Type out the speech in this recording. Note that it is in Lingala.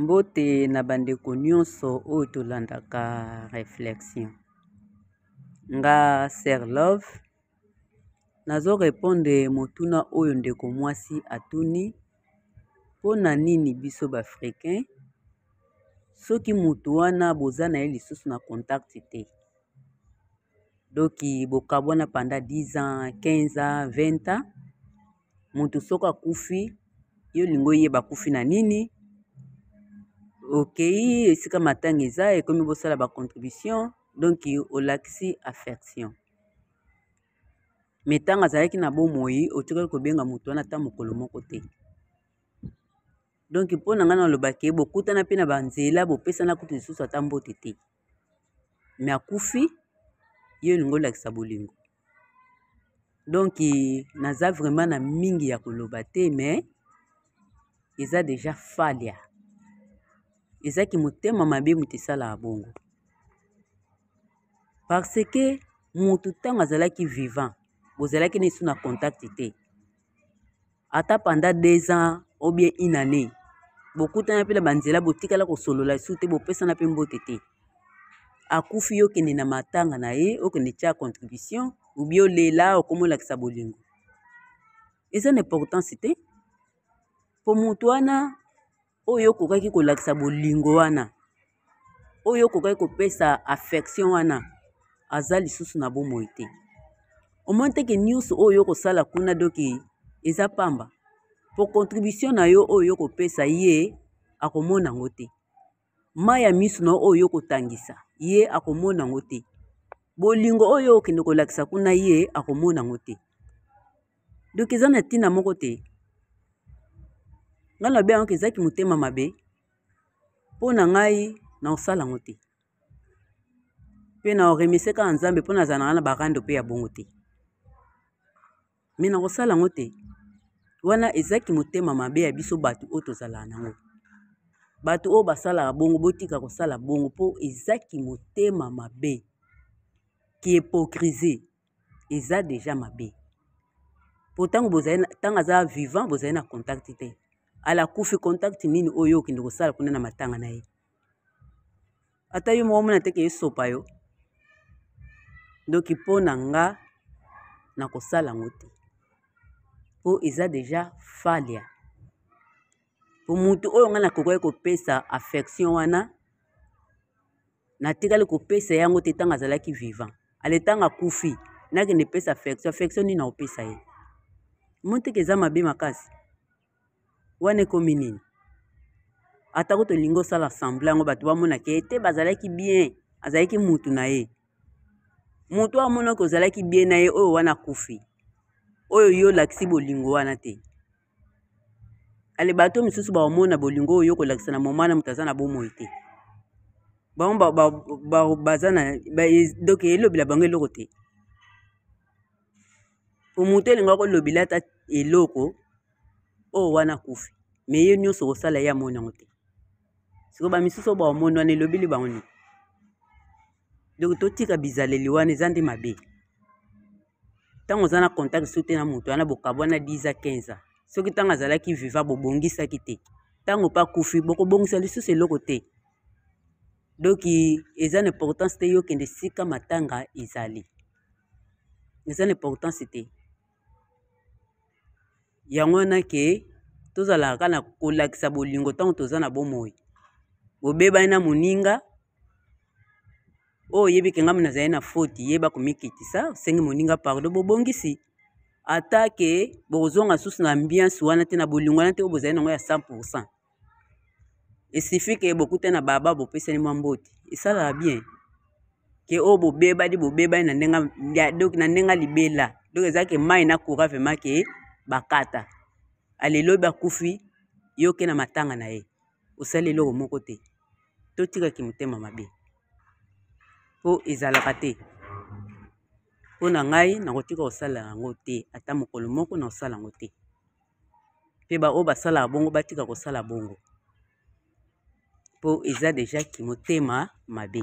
mbote na bandeko nyonso oyo tolandaka réflexion nga ser love nazo repondre motuna oyo ndeko mwasi atuni mpo na nini biso baafricain soki motu wana boza na ye lisusu na contact te doki bokabwana panda 10 ans 15 ans 20 ans mutu soki akufi yo olingi oyeba akufi na nini okeyi esika matanga eza ekomi bosala ba contribution donc olakisi affection me ntango azalaki na bomoi otikali kobenga moto wana ata mokolo moko te donk mpo na ngai nalobaki bokutana mpe na banzela bopesana kutu lisusu ata mbote te me akufi yo elingi olakisa bolingo donc naza vraiment na mingi ya koloba te me eza deja falia eza kimotema mabe moto esalaka bongo parce que moto ntango azalaki vivant bozalaki na esu na contact te ata pendant deux ans ou bien une année bokutana mpe na banzela botikala kosolola esu te bopesana mpe mbote te akufi yo okende na matanga na ye okende tya contribution obi olela okomi olakisa bolingo eza na importance te mpo moto wana oyo okokaki kolakisa bolingo wana oyo okokaki kopesa affection wana aza lisusu na bomoi te omoni teke nyonso oyo okosala kuna doki eza pamba po contribution na yo oyo okopesa ye akomona yango te mai ya miso na yo oyo okotangisa ye akomona yango te bolingo oyo okende kolakisa kuna ye akomona yango te donc eza na ntina moko te ngai nabe yango eza kimotema mabe mpo na ngai na kosala yango te mpe na oremese kaka nzambe mpo nazala ngai na barando mpe ya bongo te me na kosala yango te wana eza kimotema mabe ya biso bato oyo tozalaka nango bato oyo basalaka bongo botika kosala bongo mpo eza kimotema mabe kiepokrize eza deja mabe po ntango bozali ntango aza vivant bozali na contact te ala kufi contact nini oyo okende kosala kuna na matanga na ye ata yo moko omona teke esopa yo ndoki mpo na nga nakosala yango te mpo eza deja falia mpo motu oyo ngai nakokaki kopesa affection wana natikali kopesa ye yango te ntango azalaki vivant ale ntango akufi nakende pesa affection affection nini naopesa ye moteke eza mabe makasi wana ekomi nini atako tolingi osala semble yango bato bamonaka ye te bazalaki bien azalaki mutu na ye moto oyo amonaki ozalaki bien na ye oyo wana akufi oyo yo olakisi bolingo wana te ale bato misusu baomona bolingo oyo okolakisa na moma na moto aza na bomoi te bango baza na donk elobela bango eloko te po moto elinga kolobela ata eloko oyo oh, wana kufi me ye nyonso kosala ye amoni yango te sikoyo bamisusu oyo baomoni wana elobeli bango nini donk totika bizaleli wana eza nde mabe ntango oza na contact soki te na moto wana bokabwana 10 a 15 a soki ntango azalaki viva bobongisaki te ntango mpe akufi bokobongisa lisusu eloko te donki eza na importance te yokende esika matanga ezali eza na importance te yango wana ke tozalaka na kolakisa bolingo ntango toza na bomoi bobebani na moninga oyo oyebi ke ngai nazali na foti yeba komikitisa osengi moninga pardo bobongisi ata ke bokozonga susu na ambiance wana te na bolingo wana te oyo bozali nango ya 100 pourcent esifi ke bokutani na baba bopesani mwa mbote esalaka bien ke oyo bobebani bobebani na ndenge donc na ndenge libela donc eza ke mai na coura vraimen ke bakata alelobi akufi yo ke na matanga na ye osali eloko moko te totika kimotema mabe mpo ezalaka te mpo na ngai nakotika kosala yango te ata mokolo moko na kosala yango te mpe baoyo basalaka bongo batika kosala bongo mpo eza deja kimotema mabe